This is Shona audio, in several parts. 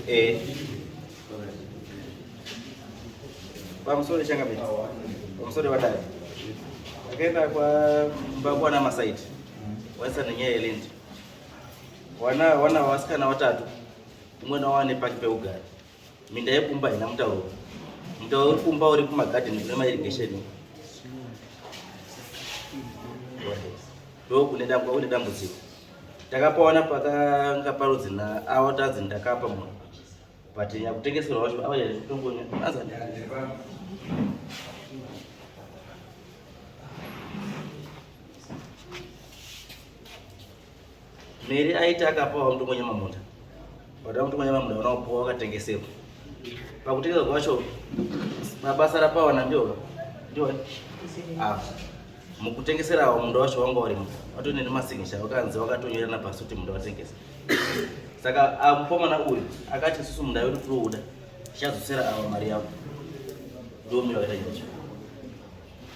Eh. Pamusori changa mimi. Pamusori wadai. Akaenda kwa babu ana masaiti. Waisa nenyaya yelendi. Wana wana wasikana watatu. Umwe na wane paki peugari. Minda yekumba haina mutauro. Mutauro uri kumba uri kumagadheni kune mairigesheni. Ndokune dambudziko. Takapaona pakanga parudzi na awa tanzi ndakapa munhu. But nyakutengeserwa wacho awa yaitongonya. Anza ndakapa. Mary aiti akapawo mndu mwenye mamunda but mndu mwenye mamunda ona kupuwa wakatengesewa pakutengesa kwacho mabasa rapawana ndiwo ndiwo ah mukutengeserawo munda wacho wanga urimo watone nemasignature wakanzi wakatonyorana pasi kuti munda watengesa saka ah, mukomana uyu akati isusu munda wedu tiri kuuda tichadzosera ava mari yavo ndomira wakaita nyaya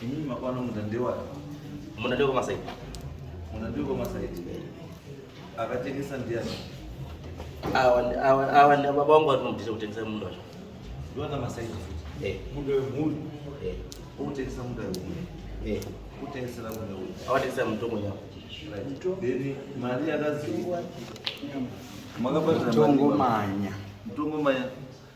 Ini mapano munda ndewapi? Munda ndewe Masaiti. Munda ndewe Masaiti. Akatengesa ndiani? Awa awa awa na baba wangu anomdisa kutengesa munda wacho. Ndiwana Masaiti. Eh, munda we mhuri. Eh, utengesa munda we mhuri. Eh, utengesa la munda we. Awatengesa mtongo nyama. Right. Then mali yakaziwa. Makabata mtongo manya. Mtongo manya.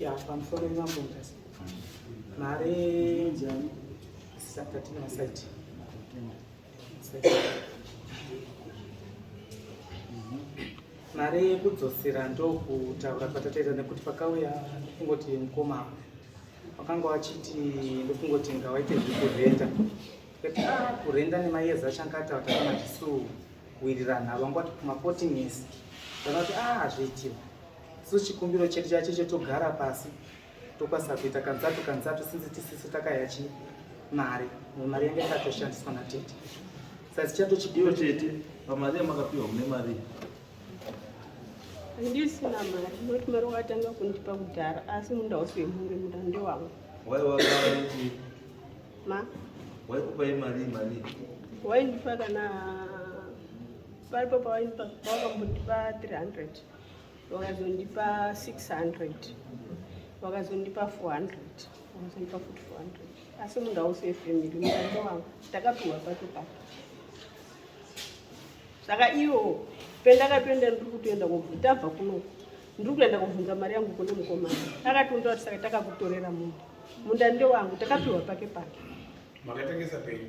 ya pamusoro imambo ndasi mari njani sakati na site mari yekudzosera ndokutaura kwatataita nekuti pakauya ndokungoti mukoma wakanga wachiti ndokungoti ngawaite zvekurenda kuti ah, kurenda nemayeza achanga ataura kana tisu kuwirirana vangwati kumaporting ese vanoti ah hazviitiwa so chikumbiro chedu chacho chetogara pasi tokwanisa kuita kanzatu kanzatu sinzi tisisi takaya chi mari mari yange yakatoshandiswa natete sasi chatochidiwa tete pamari yamakapiwa mune mari handisina mari noti mari wakatanga kundipa kudhara asi munda wose wemhuri munda ndewangu wai wakaiti ma waikupai mari mari waindipa kana paripo pawaindipa wakambotipa 300 wakazondipa 600 wakazondipa 400 wakazondipa futi 400 asi munhu ausi wefamily mutando wangu ndakapiwa pato papo saka iwo pendakatoenda ndiri kutoenda tabva kuno ndiri kuenda kobvunza mari yangu kune mukomana akatonda kuti saka takakutorera munda munda ndewangu takapiwa pake pake makatengesa penyu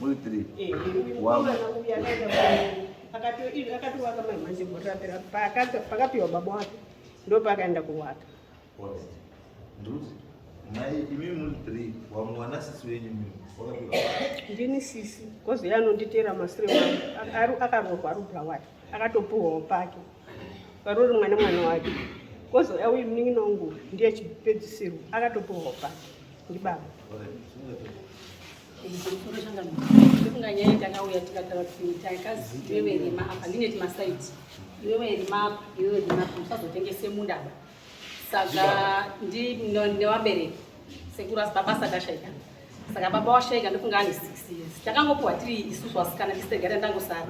muri three akatowaka mai manje gore rapera pakapiwa baba wake ndo paakaenda kuwaka ndini sisi kozi ye anonditeera masire wangu akaroorwa arubra wake akatopuhwawo pake parori mwana mwana wake kozi auyi munin'ina wangu ndiye chipedzisirwo akatopuhwawo pake ndibaba ndikunganyaya ndakauya tikataura kuti iwewe rima apa ndine timasaiti iwewe rima apa iwewe rima apa musazotengese munda apa saka newabereki sekuru asi baba sakashaika saka baba washaika ndokunga ane six years takangopiwa tiri isusu asikana tisegare ndangosara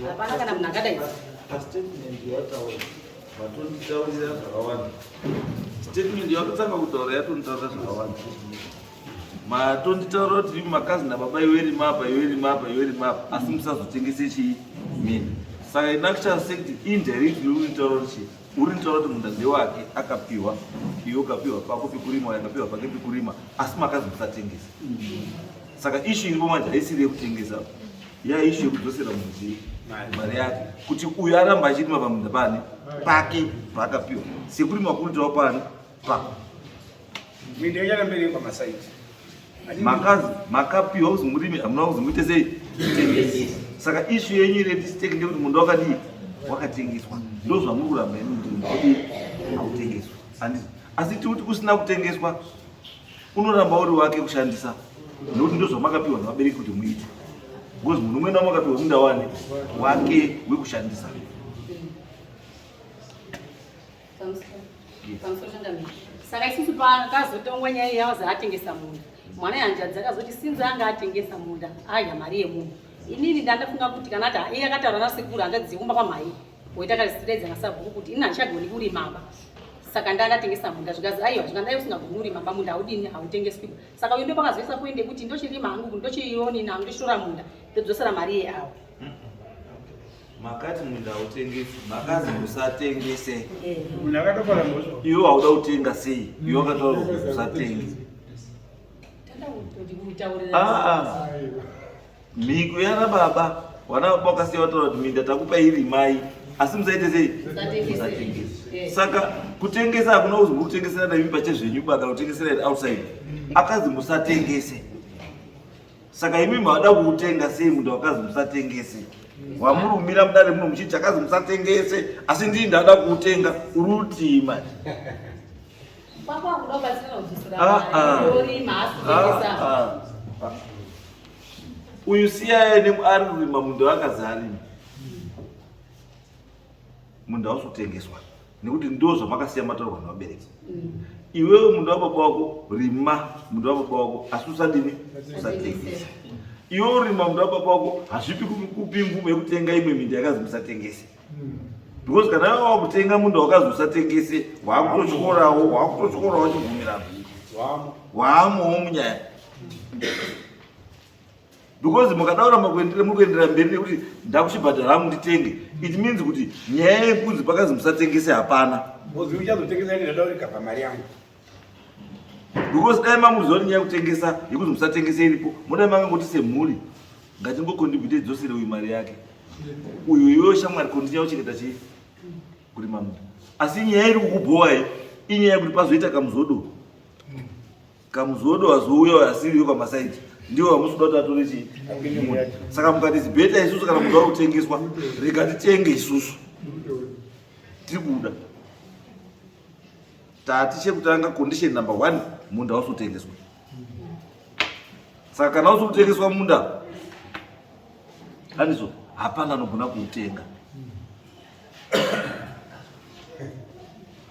hapana kana munhu akadai Vatonditaurira zvakawanda. Statement yakutanga kutaura yatonditaurira zvakawanda. Matonditaurira kuti imi makazi nababa iwe rima apa iwe rima apa iwe rima apa asi musazotengese chii mini. Saka ina kuchava sekuti indirectly uri kutaura kuti chii uri kutaura kuti munda ndewake akapiwa iwe ukapiwa pako pekurima yakapiwa pake pekurima asi makazi musatengese. Saka issue iripo manje haisiri yekutengesa. yaishu yekudzosera mudzii mari yake kuti uyu aramba achirima pamunda pane pake paakapiwa sekuri makuritawo pane pako makazi makapiwa uzi murimi hamuna uzi muite sei tengesi saka ishu yenyu iri yetisteki ndekuti munda wakadii wakatengeswa ndo zvamuri kuramba ini kuti munda wakatengeswa asi tiuti kusina kutengeswa unoramba uri wake kushandisa nekuti ndozvamakapiwa nevabereki kuti muite because munhu umwe namwe akapiwa munda wani wake wekushandisa saka isusu pakazotongwa nyaya yaozi atengesa munda mwana yanjadzi akazoti sinzi anga atengesa munda adya mari yemunhu inini ndandafunga kuti kana ati iye akataura nasekuru hanzvadzi yekumba kwamhai woita kazitidedza nasabhuku kuti ini handichagoni kurima aba saka ndaa ndatengesa munda zvikazi aiwa zvika ndai usingagoni urima ba munda haudini hautengeswi saka uyo ndopakazoisa poende kuti ndochirima hangu ndochioni nangu ndochitora munda ndodzosera mari ye awo makati munda hautengesi makazi usatengese iwe hauda kutenga sei iwe wakataura kuti usatengese Ah, mhiko yana baba wana baba wakasiya wataura kuti minda takupa iri mai asi musaite sei eh. saka kutengesa hakuna kuzwi kutengesera nemi pachezvenyu baka kutengesera it outside akazi musatengese saka imi mavada kuutenga sei munhu wakazi musatengese wamurumira mudare muno muchiti akazi musatengese asi ndii ndada kuutenga uri utii manje Ah, ah. Ah, uyu siyaye nemuari rima munhu akazarima munhu ausotengeswa nekuti ndo zvamakasiya mataurwa nevabereki mm. iwewe munhu wababa wako rima munhu wababa wako asi usadini usatengesa iwe urima munhu wababa wako hazvipi kupi mvumo yekutenga imwe minda yakazi musatengese because kana vava kutenga munda wakazosatengese waakutotyorawo waakutotyorawo chibvumirano waamowo munyaya because mukadaura makuendera muri kuendera mberi nekuti ndakuchibhadhara hangu nditenge it means kuti nyaya yekunzi pakazi musatengese hapana because dai mamuziva nyaya yekutengesa yekuti musatengese iripo modai makangoti semhuri ngatingokondibuite dzosere uyu mari yake uyo iwewo shamwari kondinya uchengeta chii kuri mamu asi nyaya iri kukubhowa iyi inyaya yekuti pazoita kamuzodo kamuzodo azouya asiriyo pamasaidi ndiwo hamusi kuda kuti atore chii saka mukati zibeta isusu kana muda kutengeswa rega titenge isusu tiri kuda tati chekutanga condition number one munda usi kutengeswa saka kana usi kutengeswa munda anizvo hapana anogona kuutenga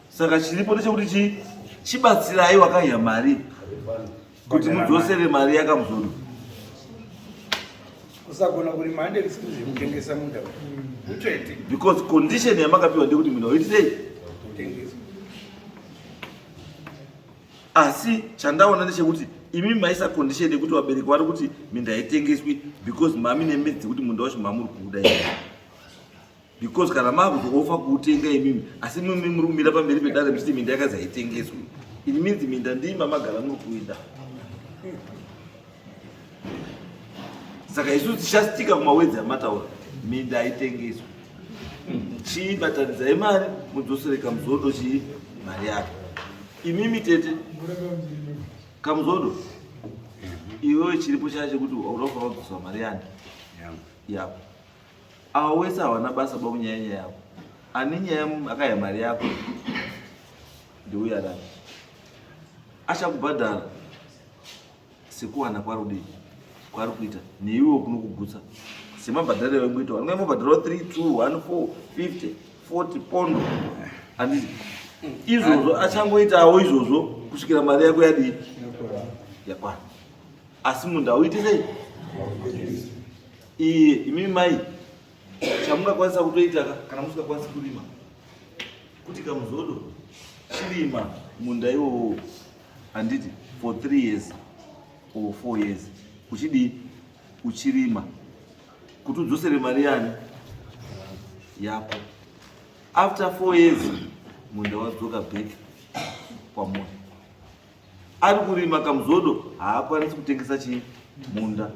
saka chiripo ndechekuti chi chibatsirai wakaiya mari kuti mudzosere mari yakamuzoro usagona kurima hande risiri zvekutengesa munda utsvete mm. because condition yamakapiwa ndekuti munda uitisei asi chandaona ndechekuti imi maisa condition yekuti vabereki vari kuti minda haitengeswi because mami nemedzi dzekuti munda wacho mamuri kuuda because kana makuzofa kuutenga imimi asi mimi muri kumira pamberi pedare muchiti minda yakazaitengeswi it means minda ndii mamagara muri kuida saka isu tichasitika kumawedzi amataura minda haitengeswi chii batanidzai mari mudzosere kamuzodo chii mari yake imimi tete kamuzodo iwewe chiripo chaya chekuti hauda kufa wadzosa mari yani yako Awa wese hawana basa ba kunyaya nyaya yako. Ani nyaya akaya mari yako. Ndiuya rani. Achakubhadhara sekuwana kwari kudii kwari kuita neiwe kunokugutsa semabhadhara ewe kuita wanga mabhadhara 3 2 1 4 50 40 pondo handizi izvozvo achangoitawo izvozvo kusvikira mari yako yadii yakwana asi munhu auite sei Iye imi mai chamungakwanisa kutoita kana musingakwanisi kurima kuti kamuzodo chirima munda iwowo handiti for three years or four years uchidii uchirima kuti udzosere mari yani yako after four years munda wadzoka back kwamunhu ari kurima kamuzodo haakwanisi kutengesa chii munda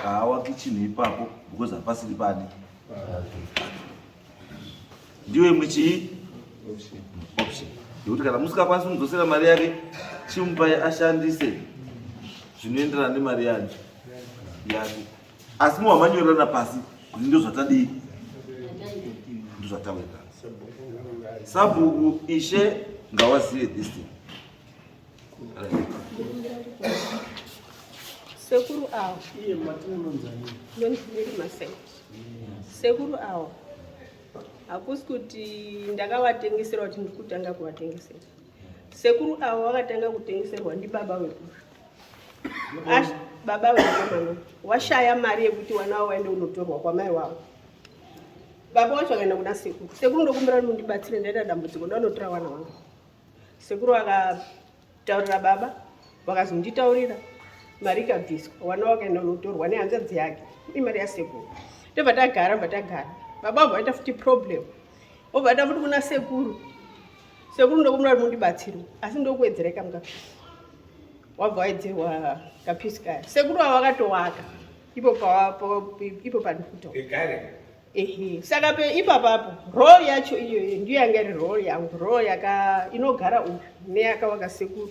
haawaki chinhu ipapo because hapasiri pani ndiyo imwe chii option yekuti kana musikakwanisi kumudzosera mari yake chimupai ashandise zvinoenderana nemari yanyu yake asi muwamanyorana pasi kuti ndozvatadii ndozvataweka sabhuku ishe ngawazive this thing sekuru awo sekuru awo hakusi kuti ndakavatengesera kuti ndiri kutanga kuvatengesera sekuru avo vakatanga kutengeserwa ndibaba vekusva Ash, baba wekomana washaya mari yekuti wana wavo waende unotorwa kwamai wavo baba wacho akaenda kuna sekuru sekuru ndokumbira kuti mundibatsire ndaita dambudziko ndanotora wana wangu sekuru vakataurira baba vakazonditaurira mari ikabviswa wana wakaenda unotorwa nehanzvadzi yake imari yasekuru ndobva tagara bva tagara baba vabva vaita futi problem obva tamuti kuna sekuru sekuru ndokumura kuti mundibatsirwe asi ndokuwedzerai kamukapisi wabva waedzerwa kapisi kaya sekuru ava vakatowaka ipo ipo pandikuto ehe saka pe ipapapo rol yacho iyoyo ndiyo yanga iri rol yangu rol yaka inogara uyu neyakawaka sekuru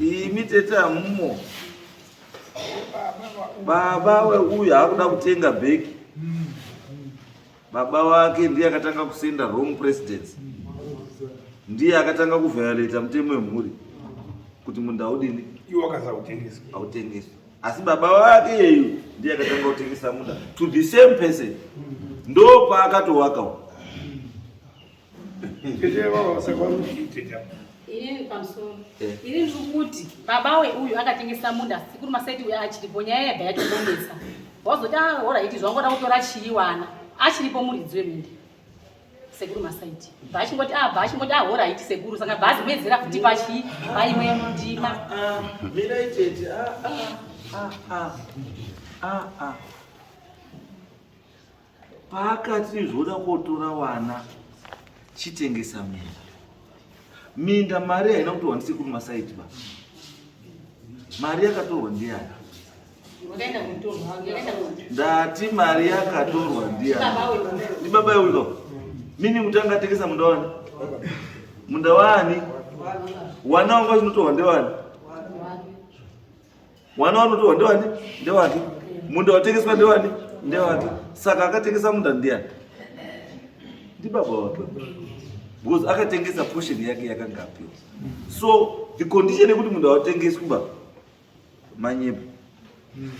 Imi tete amumo. Baba we uyu hakuda kutenga bag. Baba wake ndiye akatanga kusenda wrong presidents. Ndiye akatanga kuviolate mutemo wemhuri kuti munda udini? Iwo akaza kutengeswa. Autengeswa. Asi baba wake yeyu ndiye akatanga kutengesa munda to the same person. Ndo paakatowaka. Tete vao sakwamushiteta. Ini pamusoro. Eh. Ini ndikuti baba we uyu akatengesa munda sikuru masaiti uya achiripo nyaya yega yacho bonesa. Wazoti ah hora iti zvangoda kutora chiwana. Achiripo muridzi wemunda. Sekuru masaiti. Bachingoti ah bachingoti ah hora iti sekuru saka bhazi mwedzera kuti pachi paimwe mundima. Ah, ah mira itete ah ah ah ah ah. ah. Paakati zvoda kotora wana chitengesa minda. Minda mari haina kutorwa ndisekuru masaiti ba. Mari yakatorwa ndiyani? Ndati mari yakatorwa ndiyani? Ndi baba uyo. Mimi mutanga tengesa munda wani? Munda wani? Wana wanga zvinotorwa ndewani? Mwana wanotorwa ndewani? Ndewake. Munda watengeswa ndewani? Ndewake. Saka akatengesa munda ndiyani? Ndibaba wake. Because akatengesa portion yake yakanga apiwa. So the condition yekuti munda watengeswa ba manyepo. Hmm.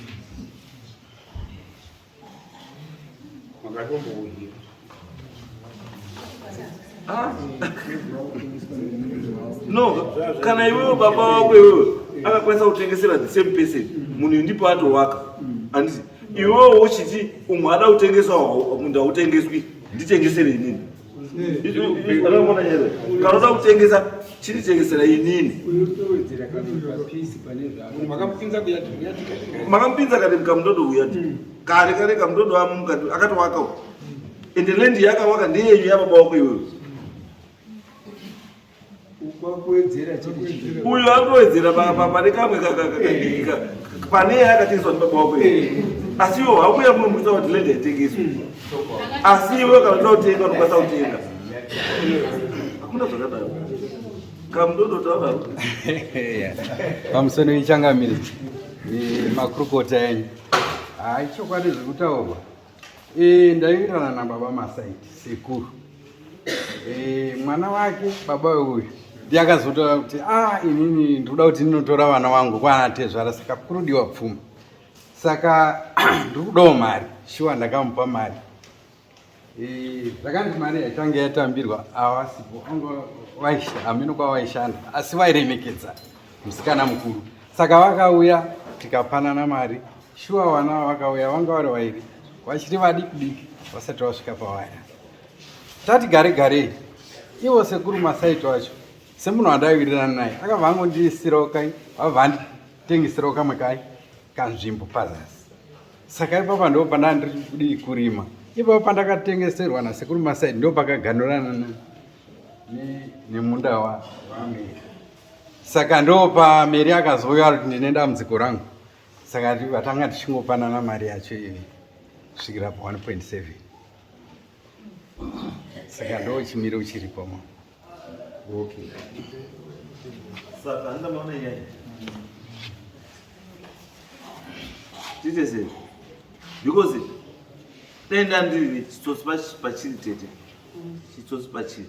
Makatombohira. Ah. No, kana iwewe baba wako iwewe akakwanisa kutengesera the same person munhu ndipo atowaka anditi iwewe wochiti umwe ada kutengesawo munda utengeswi nditengesere inini kanoda kutengesa chinitengesera inini makamupinza kare mukamudodo uya hmm. kare kare kamudodo amu mukati akatovaka ende lendi yakawaka ndeyenyu yababa wako iweyo uyu akowedzera pane kamwe kakadika pane yakatengeswa nibaba wako asi iwo haukuya munomuisa kuti lende yatengeswa asi iwe kana uda kutenga unokwanisa kutenga hakuna zvakadaro kamudodotaura pamusoro ichangamiri makurukota enyu haichokwadi zvekutaurwa Eh, ndaiwirirana na baba masaiti sekuru eh, mwana wake baba uyu ndiyakazotaura kuti ah, inini ndikuda kuti ndinotora vana wangu kwana tezvara saka kurudiwa pfuma saka ndiri kudawo mari shuwa ndakamupa mari eh, zvakanzi mari yaitange yatambirwa awasipo anga amino kwavaishanda asi vairemekedza musikana mukuru saka vakauya tikapanana mari shuwa vana vakauya vanga vari vairi vachiri vadiki diki vasati vasvika pavaya tati gare garei ivo sekuru masaiti vacho semunhu wandaiwirirana naye akabva angondisirawo kai vabva anditengesirawo kamwe kai kanzvimbo pazasi saka ipapa ndo pandandiri kurima ipapa pandakatengeserwa nasekuru masaidi ndo pakaganurana nemunda wamira saka ndopa mary akazouya ari kuti ndine dambudziko rangu saka vatanga tichingopanana mari yacho ivi kusvikira pa 1.7 saka ndo chimiro chiripo ma okay. saka ndamaona nyaya tiite sei because dai ndandiri chitsotsi pachiri tete chitsotsi pachiri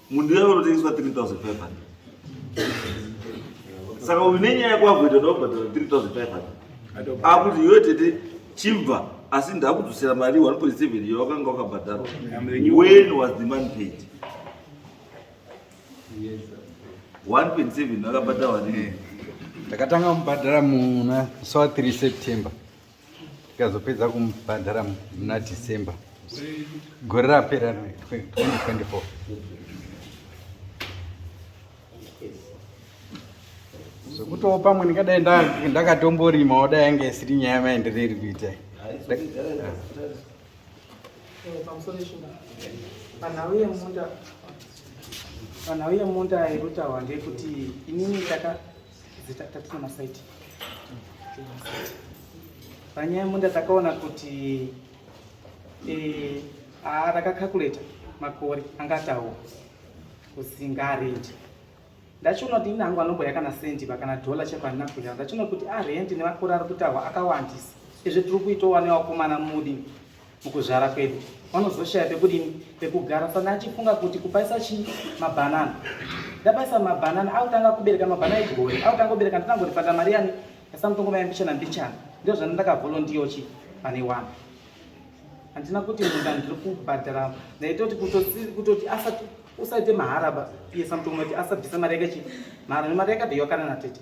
Munhu uya anotengeswa 3500. Saka uyu nenyaya yako akuita ndokubhadhara 3500. Akuti iwe tete chibva asi ndakudzosera mari 1.7 iyo wakanga wakabhadharwa. When was the man paid? 1.7 akabhadharwa nini? Ndakatanga kubhadhara muna so 3 September. tikazopedza kumubhadhara muna december gore rapera 2024 zvekutowo pamwe ndingadai ndakatomborima wadai yanga isiri nyaya maendereri kuita panhau yemunda panhau yemunda irutaurwa ndeyekuti inini taka panyaya munda takaona kuti eh, ah, takakakuleta makore angatawo kusingarendi ndachiona kuti ini hangu anomboya kana sendi pa kana dhola cheko handina kuya ndachiona kuti arendi ah, nemakore ari kutahwa akawandisa izvi tiri kuitowa newakomana mudi mukuzvara kwedu vanozoshaya pekudini pekugara saka achifunga kuti kupaisa chii mabhanana ndapaisa mabhanana akutanga kubereka mabhanana egore akutanga kubereka ndinangorifanda mari yani yasamutongo mai mbichana mbichana ndizvo zvana ndakavolontiyo chi pane wani handina kuti munda ndiri kubhadhara ndaitoti kutoti asati usaite maharaba iye samutongo kuti asabvisa mari yake chi mahara nemari yake deiwakana natete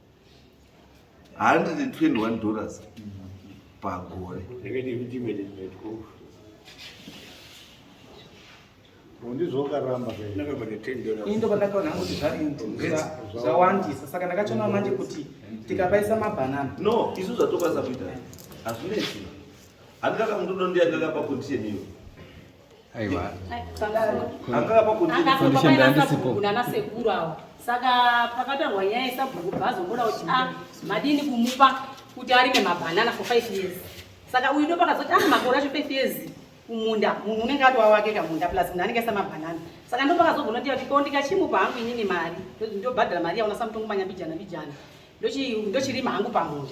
121 dollars pagore indo pandakaona hangu kuti zvawandisa saka ndakachonawo manje kuti tikapaisa mabhanana no isu zvatokwanisa kuita hazvinesi handikaka mundu dondiyandikakapa condition iyo Aiwa. Nana sekuru awa saka pakatarwa nyaya yesabhuku bhaazomboda kuti a ah, madini kumupa kuti arime mabhanana for five years saka uyu ndo pakazoti a ah, makore acho five years kumunda munhu unenge ati wawake kamunda plus munhu anenge asamabhanana saka ndo pakazogona kuti kuti ko ndikachimupa hangu inini mari ndobhadhara mari yaona samutongo manyambijana mbijana ndochirima hangu pamunda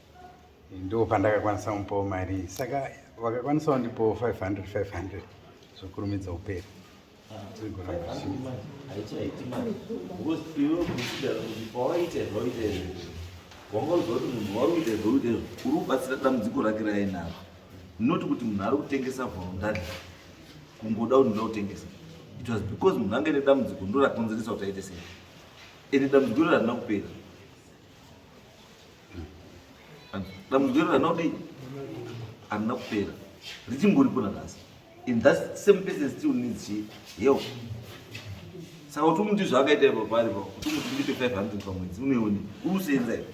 ndoo pandakakwanisa kumupawo mari iyi saka vakakwanisawo ndipowo 500 500 zvokurumidza uperi wangauzakuti munhu wari kuita zvauita izvo uri kubatsira dambudziko rake rainaro not kuti munhu ari kutengesa volundari kungoda kuti ndoda kutengesa it was because munhu ange nedambudziko ndorakonzeresa kuti aite sei ende dambudziko iro harina kupera dambudziko ranodii arina kupera richimboripo nanhasi in that same person still needs she help saka kuti umuti zvaakaita ipa paari pa kuti umuti ndipe 500 pamwedzi unoione uri kusenza ipo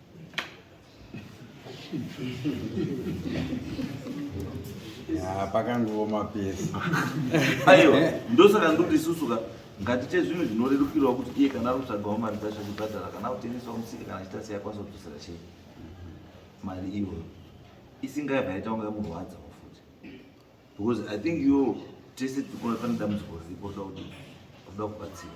Ah, pakangooma pese aiwa ndosaka ndoti isusu ka ngatiite zvinhu zvinorerukirwa kuti iye kana ari kutsvagawo mari dzacho achibhadhara kana kutengesawo musika kana achita sei akwanisa kudzosera chei mari iyoyo isingaibva yaita kunge yamurwadzawo futi because i think yo tese tikuona pane dambudziko riripo rida kuti rida kubatsira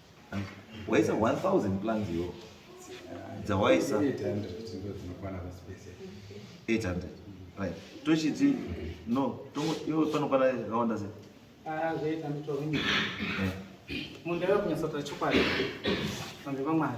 waisa 1000 plans yo dzawaisa 800 right tochiti no iwe panokwana yakawanda sei ah, eh. munhu ndave kunyatsotaura chokwadi vanhu vamwari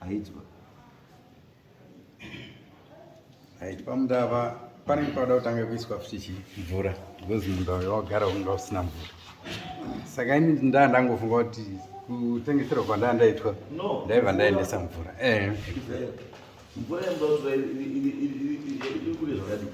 aidzwa right pamudava pane panoda kutanga kuiswa futi chi mvura because munda uyo wagara unga usina mvura saka ini ndaa ndangofunga kuti kutengeserwa kwandaa ndaitwa ndaiva ndaendesa mvura eh. mvura yamdaotura iri kure zvakadii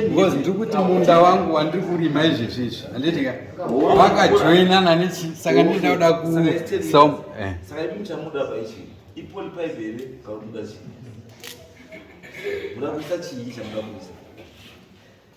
because ndiri kuti munda wangu wandiri kurima izvezvi izvi handiti ka vakajoinana nechi saka ndinoda kuda kusom eh. muda kuisa chii chamuda kuisa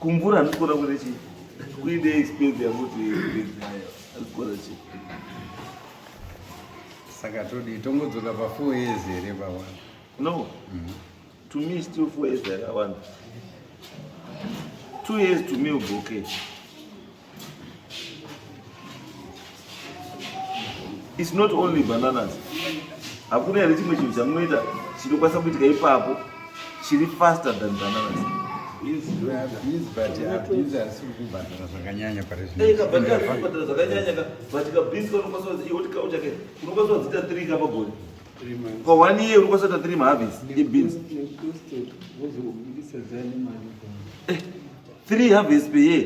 Kumvura andikona kuita chii? Kuide expense yakuti ndidzayo. Andikona chii? Saka todi tongodzoka pa 4 years here pa one? No. Mm -hmm. To me still 4 years yakawanda. 2 years to me uboke. Okay. It's not only bananas. Hakuna here chimwe chinhu chamunoita chinokwanisa kuitika ipapo chiri faster than bananas. For one year unokwanisa kuita three mahabis ebeans. three harvest per year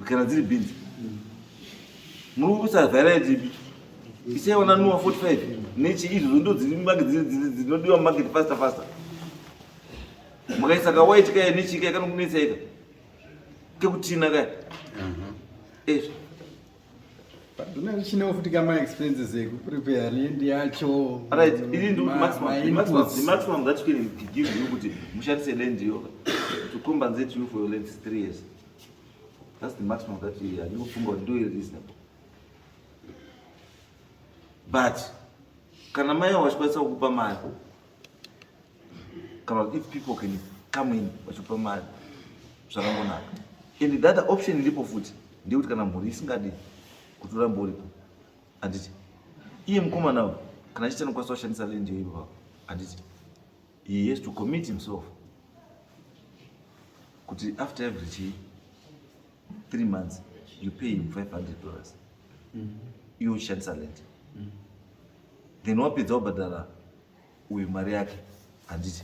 kana dziri beans muri kuisa variety ipi isaiona nuwa 45 nechi izvozvo ndo dzinodiwa mumarket faster faster makaisa kawhite kaya nechika yakanokunetsa ika kekutina kaya ezvo Paduna richina futi kama expenses eku prepare land yacho. Right, ini ndo maximum maximum maximum that you can give you kuti mushatise land yo to compensate you for your land 3 years. That's the maximum that you are you funga ndo reasonable. But kana mai wachikwanisa kukupa mari kana if people can come in vachipa mari zvakangonaka and the other option iripo futi ndeyekuti kana mhuri isingadi kuti urambe uripo handiti iye mukomana uyu kana achiti anokwanisa kushandisa lendi yoivo vavo handiti he has to commit himself kuti after every chii 3 months you pay him 500 dollars mm. iwe uchishandisa lent mm. then wapedza wabhadhara uyu mari yake handiti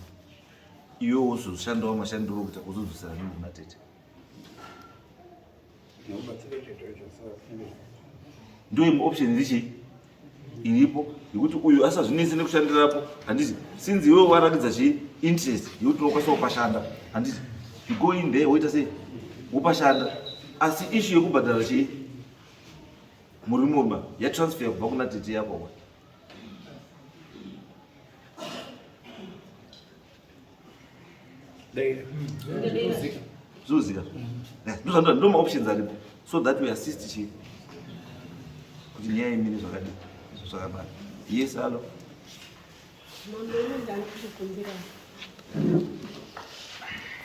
iwe wozoshandawo mashandiro okuita kuzodzosera nini matete ndoimwe option ndichii iripo yekuti uyu asazvinese nekushandirapo handiti since iwewe waratidza chii interest yekuti unokwanisa kupashanda handiti you go in there woita sei wopashanda asi ishu yekubhadhara chii murimurma yatransfer kubva kuna tete yako zvinozika ndozvandira ndo maoptions aripo so that we assist chi kuti nyaya imire zvakadii zvakabara yes alo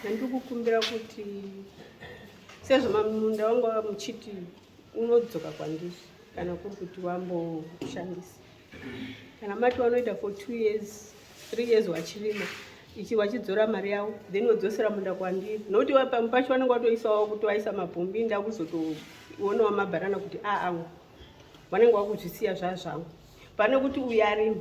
ndandikukumbira kuti sezvo mamunda wangu muchiti unodzoka kwandiri kana kuri kuti wamboshandisa kana mati wanoita for two years three years wachirima ichi wachidzora mari yavo then wodzosera munda kwandiri nokuti pamwe pacho vanenge watoisawo kutovaisa mabhombi nda kuzotoonawo mabharana kuti aamwe ah, ah, vanenge wakuzvisiya zvazvangu pane kuti uyarimi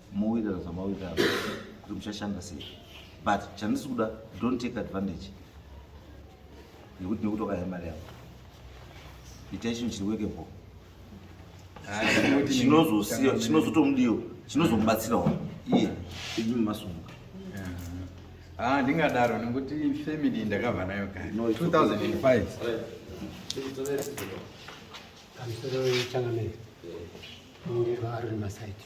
mowirira zvamawirira kuti muchashanda sei but chandisi kuda don't take advantage yekuti nekuti wakaya mari yavo itai chinhu chiri wekebo chinozosiya chinozotomudiwo chinozomubatsirawo iye imi masunguka ah, ndingadaro nekuti family ndakabva nayo kare 2005 kamusoro wechangamire unge vaari masaiti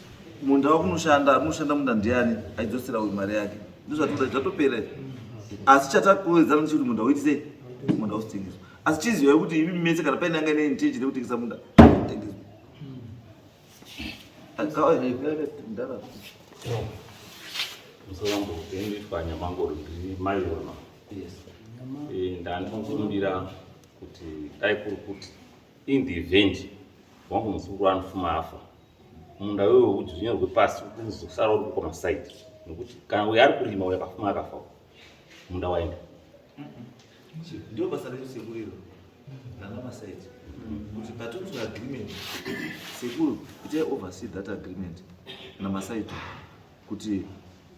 Munda wakunoshanda arinoshanda munda ndiani aidzosera uyu mari yake ndozvatoda zvatopera asi chatakuwedzana ndichikuti munda uiti sei munda usitengeswa asi chizivai kuti imi mese kana paine anga ine intention yekutengesa munda tengeswa musarambo kuendeswa nyamangoro ndiri maiona eh, ndandinokurumbira kuti dai kuri kuti in the event wangu muzukuru anofuma afa munda wewe wekuti zvinyorwe pasi uzosara uri kwamasaidi nokuti kana uyo ari kurima uyo akafuma akafa munda waenda ndio basa redu sekuru iro nangamasaidi kuti patonzwa agreement sekuru kuti oversee that agreement namasaidi kuti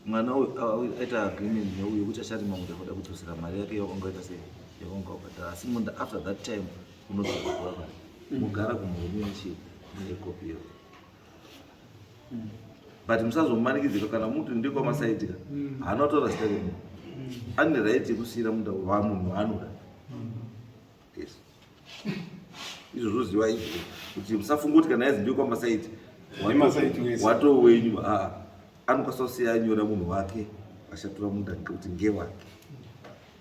mwana uyu aita agreement neuyo kuti acharima munda kuda kudzosera mari yake yakangaita sei yakangaubhadhara asi munda after that time unozokuwa mari mugara kumurume weshe mune kopi iyo but musazomanikidzika kana muti ndikwamasaidika mm. haana kutora zita remunhu mm. ane right yekusiyira munda wamunhu waanoda mm. yes izvo zvoziva izvo kuti musafunga kuti kana yazi ndikwamasaiti wato wenyu ah, anokwanisa kusiya anyora munhu wake ashatura munda ngekuti ngewake